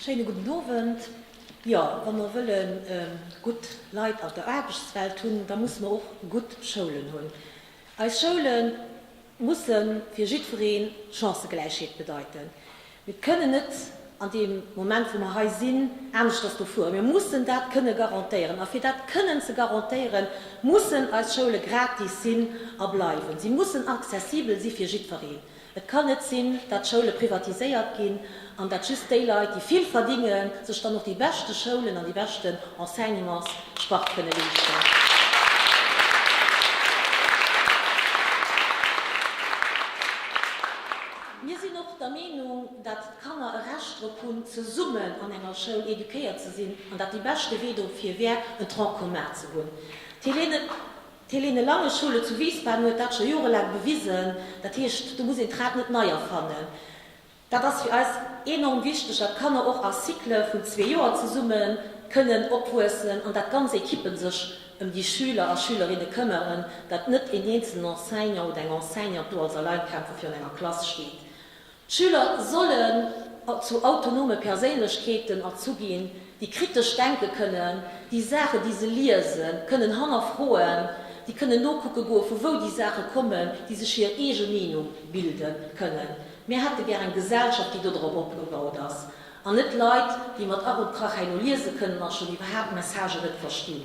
Schéine gudden Owend. Jo, wa mer wëlle gutt Leit an der Aarbechtswelt hunn, da musse mer och gutt Schoulen hunn. Eis Schoule musse fir jiddweree Chancëgläichheet bedeiten. Mir kënnen net an deem Moment, wou mer hei sinn, aneschters do fueren. Mir mussen dat kënne garantéieren. A fir dat kënnen ze garantéieren, mussen eis Schoule gratis sinn a bleiwen. Si mussen accessibel si fir jiddwereen. Et kann net sinn, dat d'Schoule privatiséiert ginn an dat just déi Leit, déi vill verdingen, sech dann och déi beschte Schoulen an déi beschten Enseignements spart kënne leeschten. Mir sinn och der Meenung, dat d'Kanner e Recht drop hunn, zesummen an enger Schoul eduquéiert ze sinn an dat déi beschte Wee dofir wär, en Tronc commun ze hunn. D'Hélène D'Helene Lange Schoule zu Wiesbaden huet dat scho jorelaang bewisen. Dat heescht, do muss een d'Rad net nei erfannen. Dat ass fir eis enorm wichteg, dat d'Kanner och a Cycle vun zwee Joer zesumme kënnen opwuessen an dat ganz Equippen sech ëm déi Schüler a Schülerinne këmmeren, dat net een eenzelnen Enseignant oder eng Enseignante do als Alleinkämpfer virun enger Klass steet. D'Schüler sollen zu autonome Perséinlechkeeten erzu ginn, déi kritesch denke kënnen, déi Saachen, déi se liese kënnen, hannerfroen, déi kënnen nokucke goe vu wou déi Saache kommen, déi sech hir eege Meenung bilde kënnen. Mir hätte gär eng Gesellschaft, déi dodrop opgebaut ass, an net Leit, déi mat Ach und Krach hei no liese kënnen a schonn iwwerhaapt Messagë net verstinn.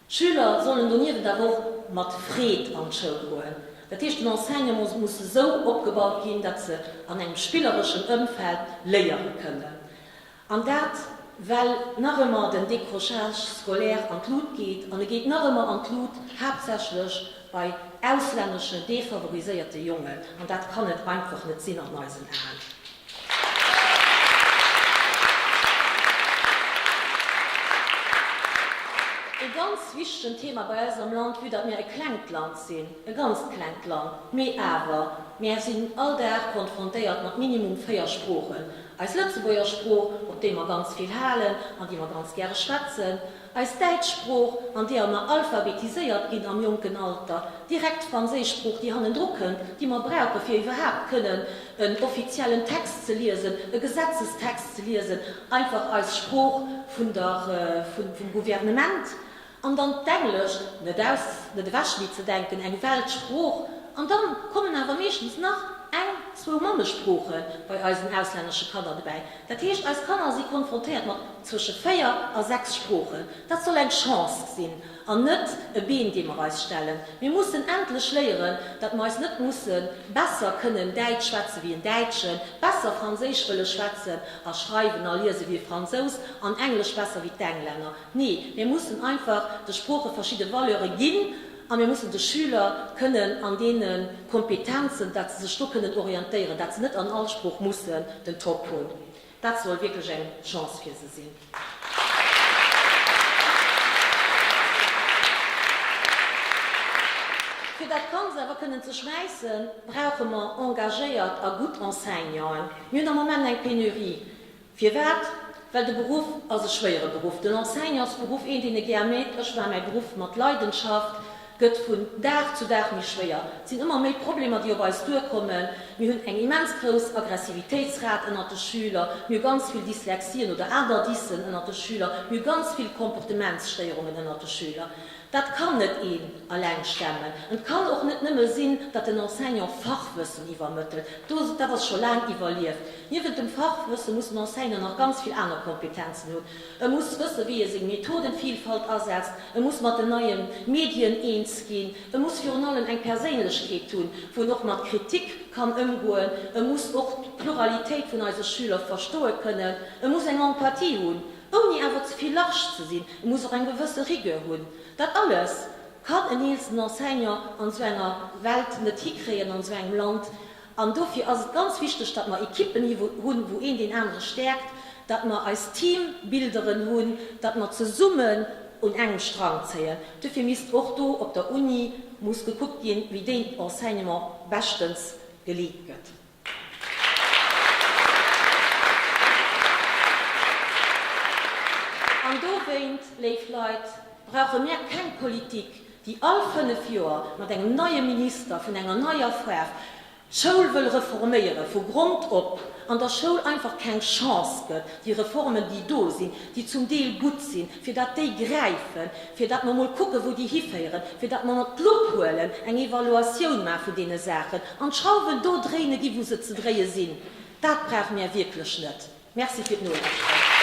D'Schüler sollen doniewent awer och mat Freed an d'Schoul goen. Dat heescht, den Enseignement muss esou opgebaut ginn, datt se an engem spillereschen Ëmfeld léiere kënnen. An dat, well nach ëmmer den Décrochage scolaire an d'Lut geet. An e geet nach ëmmer an d'Lut, haaptsächlech bei auslännesche, defavoriséierte Jongen. An dat kann et einfach net sinn an eisen Aen. Ee ganz wichtegen Thema bei eis am Land, vue datt mir e klengt Land sinn, e ganzt klengt Land, mee awer, mir sinn all Dag konfrontéiert mat minimum véier Sproochen, eis Lëtzebuerger Sprooch, op déi mer ganz vill halen an déi mer ganz gäre schwätzen, Eis däitsch Sprooch, an deeër mer alphabetiséiert ginn am jonken Alter, direkt d'franséisch Sprooch, déi hannendru kënnt, déi mer brauchen, fir iwwerhaapt kënnen en offiziellen Text ze liesen, e Gesetzestext ze liesen, einfach eis Sprooch vun der, vum Gouvernement. An dann d'Englesch, net aus, net ewechlee ze denken, eng Weltsprooch. An dann kommen awer meeschtens nach eng, zwou Mammesproochen bei eisen auslännesche Kanner dobäi. Dat heescht, eis Kanner si konfrontéiert mat zwësche véier a sechs Sproochen. Dat soll eng Chance sinn an net e Been, dee mer eis stellen. Mir mussen endlech léieren, datt mer eis net musse besser kënnen Däitsch schwätze wéi en Däitschen, besser Franséisch wëlle schwätzen a schreiwen a liese wéi e Fransous an Englesch besser wéi d'Englänner. Nee, mir mussen einfach de Sprooche verschidde Valeure ginn. A mir mussen de Schüler kënnen an deene Kompetenzen, datt se sech do kënnen orientéieren, datt se net an all Sprooch mussen den Top hunn, dat soll wierklech eng Chance fir se sinn. Fir dat Ganz awer kënnen ze schmäissen, brauche mer engagéiert a gutt Enseignanten. Mir hunn am Moment eng Penurie. Firwat? Well de Beruff ass e schwéiere Beruff. Den Enseignantsberuff, een, deen e gär mécht, ech maache mäi Beruff mat Leidenschaft, gëtt vun Dag zu Dag méi schwéier. Et sinn ëmmer méi Problemer, déi op eis duerkommen. Mir hunn eng immens grouss Aggressivitéitsrat ënnert de Schüler. Mir hu ganz vill Dyslexien oder aner Dysen ënnert de Schüler. Mir hu ganz vill Comportementsstéierungen ënnert de Schüler. Dat kann net een alleng stemmen. An et kann och net nëmme sinn, datt den Enseignant Fachwëssen iwwermëttelt. Dat ass scho laang iwwerlieft. Niewent dem Fachwësse muss den Enseignant nach ganz vill aner Kompetenzen hunn. E muss wëssen, wéi e seng Methodenvielfalt asetzt. E muss mat den neie Medien eens ginn. E muss virun allem eng Perséinlechkeet hunn, wou en och mat Kritik kann ëmgoen. E muss och d'Pluralitéit vun eise Schüler verstoe kënnen. E muss eng Empathie hunn. ouni awer ze vill large ze sinn, e muss och eng gewësse Rigueur hunn, dat alles kann en eelsten Enseignant an esou enger Welt net hikréien, an esou engem Land, an dofir ass et ganz wichteg, datt mer Equippen hi hunn, wou een deen anere stäerkt, datt mer eis Teambilderen hunn, datt mer zesummen un engem Strang zéien. Dofir misst och do op der Uni muss gekuckt ginn, wéi deen Enseignement beschtens geleet gëtt. An dowéint, léif Leit, brauche mir keng Politik, déi all fënnef Joer mat engem neie Minister vun enger neier Foire d'Schoul wëll reforméiere vu Grond op an der Schoul einfach keng Chance gëtt, déi Reformen, déi do sinn, déi zum Deel gutt sinn, fir datt déi gräifen, fir datt mer emol kucken, wou déi hiféieren, fir datt mer mer d'Lupp huelen, eng Evaluatioun maache vun deene Saachen an d'Schrauwen do dréine ginn, wou se ze dréie sinn. Dat brauche mir wierklech net. Merci fir d'Nolauschteren.